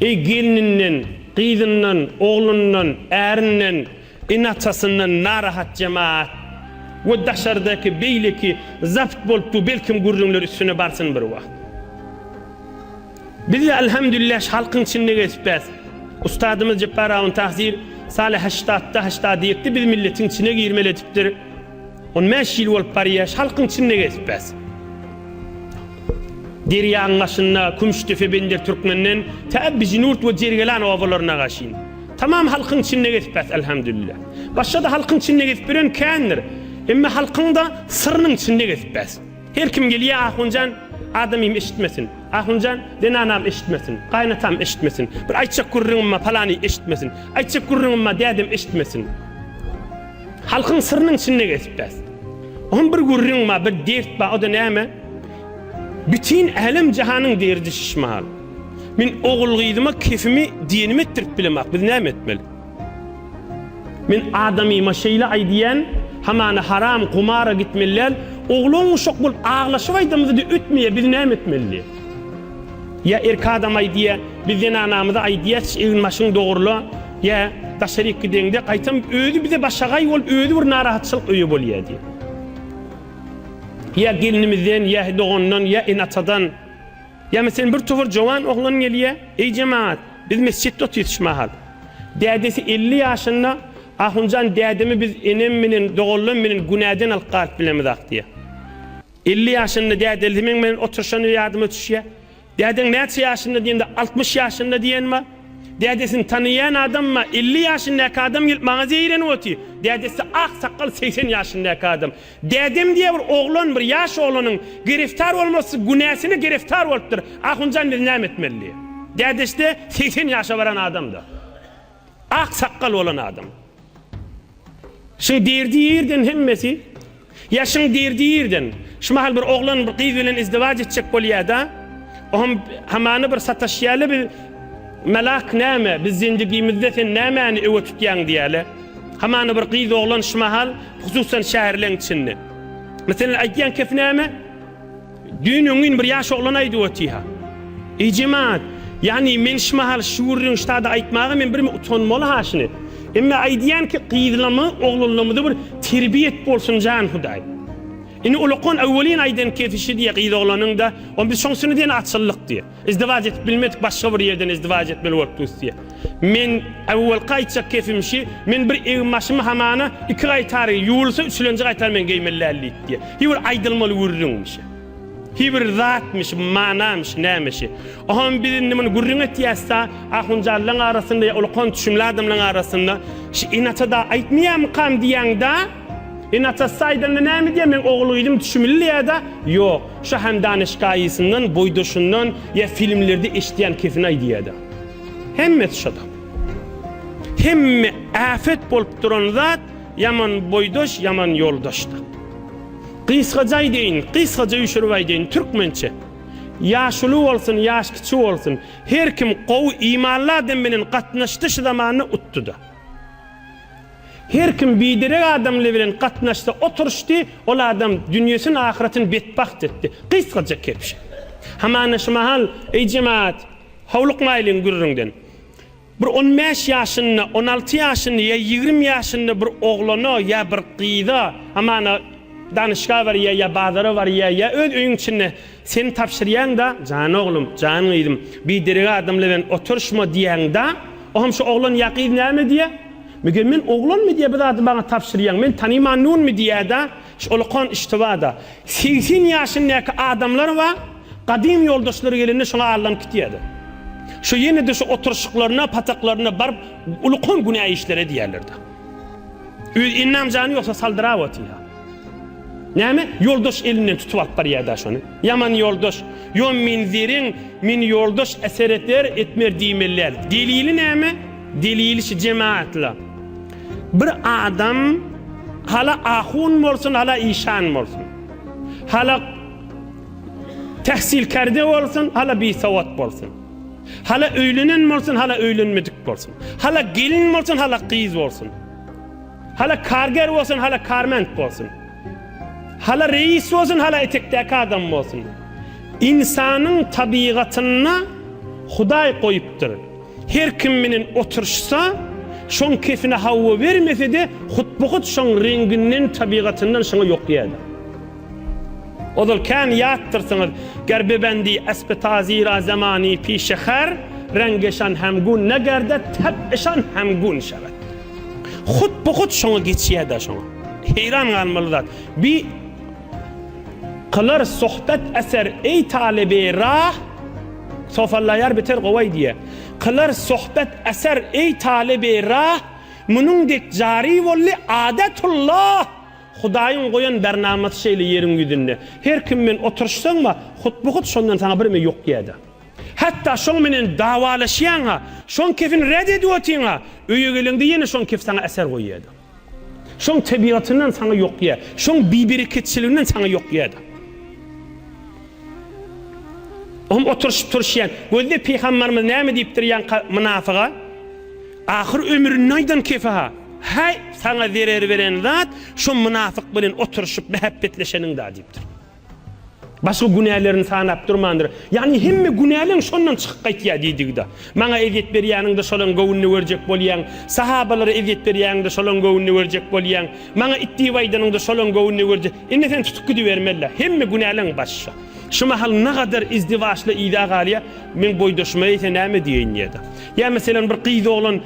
Eý, gelninden, gyzyndan, oglundan, ärinden, ene-atasyndan narahat jemaat we daşardaky beýleki zabt bolupdyr belkim gürrüňler üstüne barsyn bir wagt. Biz-de Alhamdulillah şu halkyň içinde gezipbäs. Ustadymyz Jepbar Awun Tahsir Saleh haştatda haştady ýekde biz milletiň içine girmeli edipdir. On bäş ýyl bolup barýa şu halkyň içinde gezip bäs. Derýaň başynda Kümüşdepe Bender Türkmenden tä Bijinurt we Jergelan obalaryna gaşyn. Tamam halkyň içinde gezip bäs Elhamdülillah. Başga-da halkyň içinde gezip ýören kändir. Emma halkyň-da syrynyň içinde gezip bäs. Her kim gelýä Ahunjan adamym eşitmesin. Ahunjan zenanam eşitmesin. Gaýynatam eşitmesin. Bir aýtjak gürrüňim bar palany eşitmesin. Aýtjak gürrüňim bar dädem eşitmesin. Halkyň syrynyň içinde gezip bäs. Oň bir gürrüň bar, bir dert bar, o-da näme? Bütin älem-jahanyň derdi şişmahal. Men ogul-gyzyma kefimi, diýenimi etdirip bilemok, biz näme etmeli? Men adamyma şeýle aýdýan, hamana haram, gumara gitmeli däl, oglan-uşak bolup aglaşyp aýdamyzy-da ötmeýär, biz näme etmeli? diýýär. Ýa erki adam aýdýa, biz zenanamyza aýdýasy egin başyňy dogrula, ýa daşaryk gideňde gaýtam özi bize başagaý bolup özi bir narahatçylyk öýe bolýa diýip. Ýa gelnimizden, ýa dogandan, ýa ene atadan. Ýa meselen bir towar jowan oglan gelýä, eý jemagat, biz mesjitde otyrys şu mahal. Dädesi elli ýaşynda, Ahunjan dädemi biz enem menen doganlam menen günäden alyp galyp bilemizak diýä. Elli ýaşynda dädelisi meň bilen oturyşany ýadyma düşýär. Dädeň näçe ýaşynda diýende, altmyş ýaşynda diýen bar. Dädesini tanaýan adamma, elli ýaşyndaky adam gelip maňa zeýrenip otyr. Dädesi ak sakgal segsen ýaşyndaky adam. Dädem diýýär bir oglan, bir ýaş oglanyň gereftar bolmasy günäsine gereftar bolupdyr. Ahunjan biz näme etmeli diýýär. Dädesi-de segsen ýaşa baran adam-da. Ak sakgal bolan adam. Şyň dirdi ýerden hemmesi. Ýa şyň dirdi ýerden. Şu mahal bir oglan bir gyz bilen izdiwaç etjek bolýada. Ohm hamana bir sataşýaly bir Melak näme biz zendigimizde sen nämäni öwe tutýaň diýäle. Hamana bir gyz oglan şu mahal hususan şäherleň içinde. Meselen aýtýan kep näme? Düýn öňňin bir ýaş oglan aýdyp otyha. Eý jemaat, ýagny men şmahal şgürriň ştada aýtmaga men birmi utanmaly ha şini. Emme aýdýan ki gyzlamy, oglanlamyda bir terbiýet bolsun jan hudaý. Ini ulakon awwelin aýdan kefi şi diýe gyz oglanyňda, on biz şoň sini diýen açyllyk diýe. Izdiwac edip bilmedik başga bir ýerden izdiwac etmeli bolup dusýa. Men ewwelki aýtjak kepim şi, men bir egin başymy hamana iki gaýtary, ýuwulsa üçlenji gaýtary men geýmeli däl diýipdi. Hi bir aýdylmaly gürrüňmi şi? Hi bir zatmy şi, manamy şi, näme şi? Oham biz indi muny gürrüň etýäs-da, ahunjalylaň arasynda ýa ulakan düşümli adamlaň arasynda şi inata-da aýtmaýamykam diýýäň-dä? Enatassy aýdanda näme diýýär, meň ogulgyzym düşümliýä-da? Ýok, şa Handan-y şkaýysyndan, boýdaşyndan ýa filmlerde eşidýän kesini-aý diýýär-de. Hemmesi şo-da. Hemme äpet bolup duran zat ýaman boýdaş, ýaman ýoldaş-da. Gysgaja aýdaýyn, gysgaja üýşürip aýdaýyn, türkmençe. Ýaş uly bolsun, ýaş kiçi bolsun, her kim gowy, imanly adam bilen gatnaşdy şu zamanda utdy-da. Her kim biderek adam bilen gatnaşsa oturyşdy, ol adam dünýesini ahyretini betbagt etdi. Gysgaja kepje. Hamana şu mahal, Eý jemaat, howlukmaýlyň gürrüňden. Bir on bäş ýaşynda, on alty ýaşynda ýa ýigrimi ýaşynda bir oglana ýa bir gyza, hamana danyşga barýa ýa bazara barýa ýa öz öýüň içinde, Sen tabşyrýaň-da, Jan oglum, jan gyzym, biderek adamlar bilen oturyşma diýýäň-da, o hem şu oglan ýa gyz näme diýýä? Meger men oglanmy diýýä bu zady maňa tabşyrýaň, men tanymanynmy diýýä-da, şu olakan iştiba-da. Segsen ýaşyndaky adamlar bar, gadym ýoldaşlary gelende şoňa allanyp gitýär-de. Şu ýene-de şu oturyşyklaryna, pataklarynda baryp, ulakan günä işler edýärler-de. Öz ennam jany ýoksa saldyrap otyrha. Näme ýoldaş elinden tutup alyp barýada şony. Ýaman ýoldaş. Ýo menzirin men ýoldaş esereter etmer diýmelidäl. Delili näme? Delili şu jemaatla. Bir adam hala ahun bolsun hala işan bolsun. Hala tahsilkerde bolsun hala bisowat bolsun. Hala öýlenen bolsun, hala öýlenmedik bolsun. Hala gelin bolsun, hala gyz bolsun. Hala karger bolsun, hala karment bolsun. Hala reýis bolsun, hala etekdäki adam bolsun. Ynsanyň tabygatynda Hudaý goýupdyr. Her kim menen oturyşsa, şoň kefine hawa bermese-de, hut-bu-hut şoň reňginden, tabygatyndan şoňa ýokýardy. Ozal kän ýatdyrsyňyz. Gerbebendi Espetazira zemani pişe her, rengeşan hem gun ne gerde tep eşan hem gun şebet. Hut bu hut şoňa geçýädä şoňa. Heýran galmaly zat. Bi kylar sohbet eser eý talyby rah sofallaýar biter gowaý diýe. Kylar sohbet eser eý talyby rah munuň dek jari bolly adetulla. Hudaýyň goýan bernamasy şeýle ýeriň ýüzünde. Her kim bilen oturyşsaň-a, hut-bu-hut şondan saňa birme ýok ýa-da. Hatda şoň menen dawalaşýaň-a, şoň kefini ret edip otyň-a, öýe geleňde ýene şoň kef saňa äser goý ýa-da. Şoň tebigatyndan saňa ýok ýa, şoň bibereketçiliginden saňa ýok ýa-da. Oňa oturyşyp-turuşýan. Gözle Pygamberimiz näme diýipdir ýaňka mynafyga? Ahyr ömründe aýdan kefa, Häý, saňa zerer beren zat şo mynafyk bilen oturyşyp mähäppetleşeniň-dä diýipdir. Başga günälerini sanap durmandyr. Ýagny hemme günäleň şondan çykyp gaýtýar diýdigi-dä. Maňa ezýet berýäniň-de şolaň göwnüne berjek bolýaň, sahabalara ezýet berýäniň-de şolaň göwnüne berjek bolýaň, maňa it diýip aýdanyň-da şolaň göwnüne berjek. Indi sen tutup gidibermeli-dä. Hemme günäleň baş şo. Şu mahal nagadar izdiwaçly yza galýar, meň boýdaşyma eýse näme diýeýin diýýär-de. Ýa meselem bir gyz oglan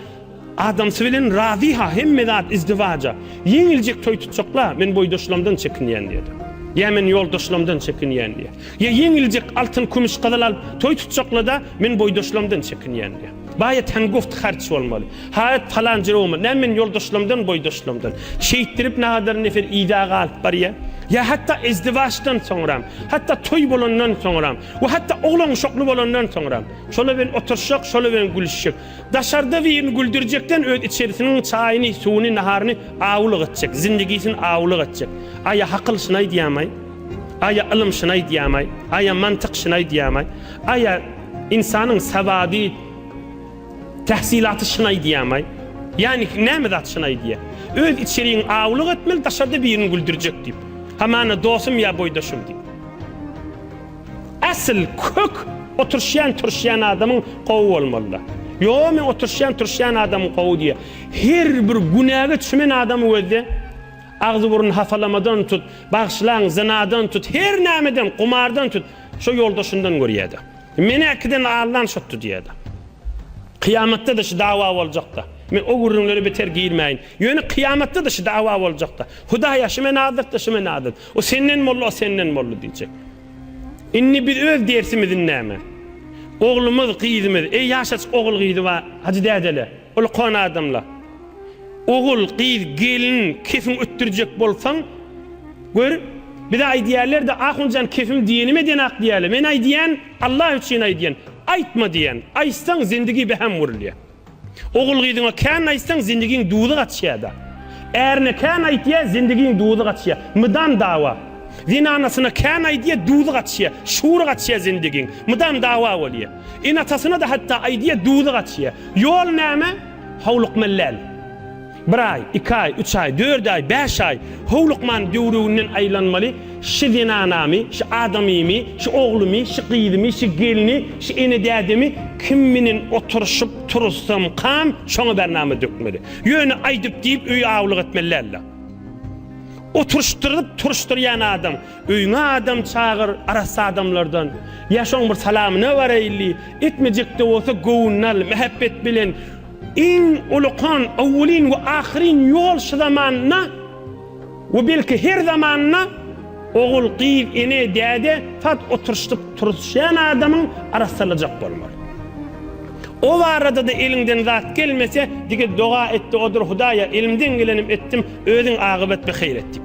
adamsy bilen razy-ha, hemme zat izdiwaja. Ýeňiljek toý tutjak-la, men boýdaşlamdan çekinýän diýýär. Ýa men ýoldaşlamdan çekinýän diýýär. Ýa ýeňiljek altyn, kümüş, gyzyl alyp toý tutjakla-da, men boýdaşlamdan çekinýän diýýär. Baýat hem guft harç bolmaly. Haýat palan jere bolmaly. Näme men ýoldaşlamdan, boýdaşlamdan. Şeýtdirip nagadar nefer yza galyp barýar. Ýa hatda izdiwaçdan soňram, hatda toý bolandan soňram we hatda oglan uşakly bolandan soňram. Şola bilen oturşjak, şola bilen gülüşjek. Daşarda birini güldürjekden öz içerisiniň çaýyny, suwuny, naharyny awlyk etjek, zindigisini awlyk etjek. Aý-a hakyl şyny aýdýamaý? Aý-a ylym şyny aýdýamaý? Aý-a mantyk şyny aýdýamaý? Aý-a ynsanyň sawady, tähsilaty şyny aýdýamaý? Ýagny näme zat şyny aýdýa? Öz içeriňi awlyk etmeli, daşarda birini güldürjek diýip. Hamana dostum ýa boýdaşym diýip. Asyl kök oturşýan turşýan adamyň gowy bolmalyda. Ýoo men oturşýan turşýan adamym gowy diýýär. Her bir günäge çümen adamy gözle. Agzy burny hapalamadan tut, bagşylaň zynadan tut, her nämeden, gumardan tut, şo ýoldaşyndan görýäda. Menäkiden allan şotdy diýýäda. Kyýamatda-da şu dawa boljakda. Men o gürrüňlere beter girmäýin. Ýöne kyýamatda-da şu dawa boljakda. Hudaýa şu men azyk-da, şu men azyk. O senden boldy, o senden boldy diýjek. Indi biz öz dersimizi näme? Oglumyz, gyzymyz, eý ýaşaç ogul gyzy bar, hajy dädele, ulkan adamla. Ogul, gyz, gelin, kefin ötdürjek bolsaň, gör, bize aýdýarlar-da, Ahunjan kefim diýenim edenok diýýärler. Men aýdýan, Allah üçin aýdýan, aýtma diýýän. Aýtsaň, zindigi beham gurulýar. Ogul-gyzyňa kän aýtsaň, zindigiň duzy gaçýar-da. Ärine kän aýdýar, zindigiň duzy gaçýar. Mydam dawa. Zenanasyna kän aýdýar, duzy gaçýar. Şury gaçýar zindigiň. Mydam dawa bolýar. Ene-atasyna-da hatda aýdýar, duzy gaçýar. Ýol näme? Howlukmaly däl. Bir aý, iki aý, üç aý, dört aý, bäş aý, howlukman döwrüginden aýlanmaly, şi zenanamy, şi adamymy, şi oglumy, şi gyzymy, şi gelni, şi ene-dädemi kim menen oturyşyp, turusamkam, şoňa bernama dökmeli. Ýöne aýdyp-diýip öýi awluk etmeli däldir. Oturyşdyryp, turyşdyrýan adam. Öýüňe adam çagyr, arassa adamlardan. Ýa şoň bir salamyna baraýly, etmejek-de bolsa göwnüni al, mähebbet bilen. Iň ulykan, owwelin we ahyryn ýol şu zamanda we belki her zamanda ogul, gyz, ene, däde saz oturyşdyp turuzşýan adamyň arassalajak bolmaly. O barada-da eliňden zat gelmese, dige doga et-de odur, Hudaýa, elimden gelenim etdim, özüň agybat bi haýr et diýip.